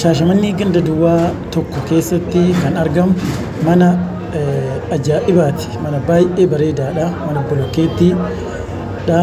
Shaashamannee ganda duwwaa tokko keessatti kan argamu mana ajaa'ibaati. Mana baay'ee bareedaadha. Mana bolokkeettiidha.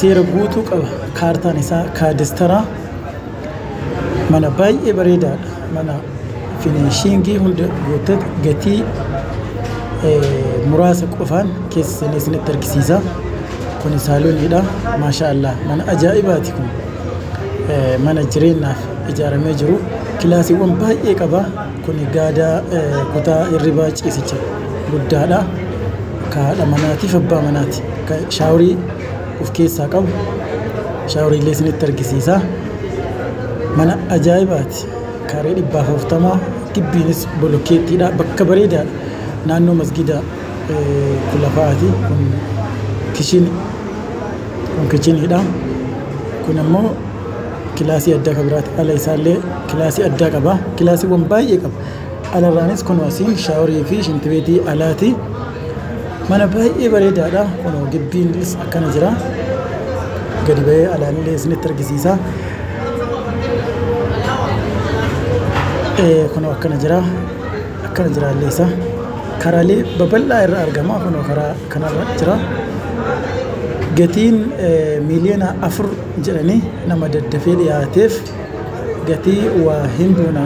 Seera guutuu qaba. Kaartaan isaa kaadastara. Mana baay'ee bareedaadha. Mana finiishiingii hunda guuttatu gatii muraasa qofaan keessa seenee isinitti argisiisa. Kuni saalooniidha. Maashaa Allah mana ajaa'ibaati kun. mana jireenyaaf ijaaramee jiru kilaasiiwwan baay'ee qaba. Kun gaadaa kutaa hirribaa ciisicha guddaadha. Kan haadha manaatiif abbaa manaati. Kan shaaworii of keessaa qabu shaaworii illee isinitti argisiisa. Mana ajaa'ibaati. Kaareewwan dhibba afurtama gibbiinis bolokeettiidha. Bakka bareedaadha. Naannoo masgiidaa. Kun lafa ati kun kishin kun kichiniidha kun ammoo kilaasii addaa kan biraati ala isaallee kilaasii addaa qaba kilaasiiwwan baay'ee qaba alarraanis kun asii shaaworii fi shintibeetii alaati mana baay'ee bareedaadha kun gibbiinis akkana jira gadi ba'ee alaanillee isinitti argisiisa kun akkana jira. Akkana jira haalli isaa. Karaalee babal'aa irra argama. Kunoo karaa kanarra jira. Gatiin miiliyoona afur jedhanii nama daddafee dhiyaateef gatii waa hin buuna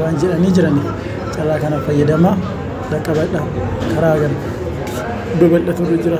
waan jedhanii jiran carraa kana fayyadamaa dhaqqabadha. Karaa kana babal'aturra jira.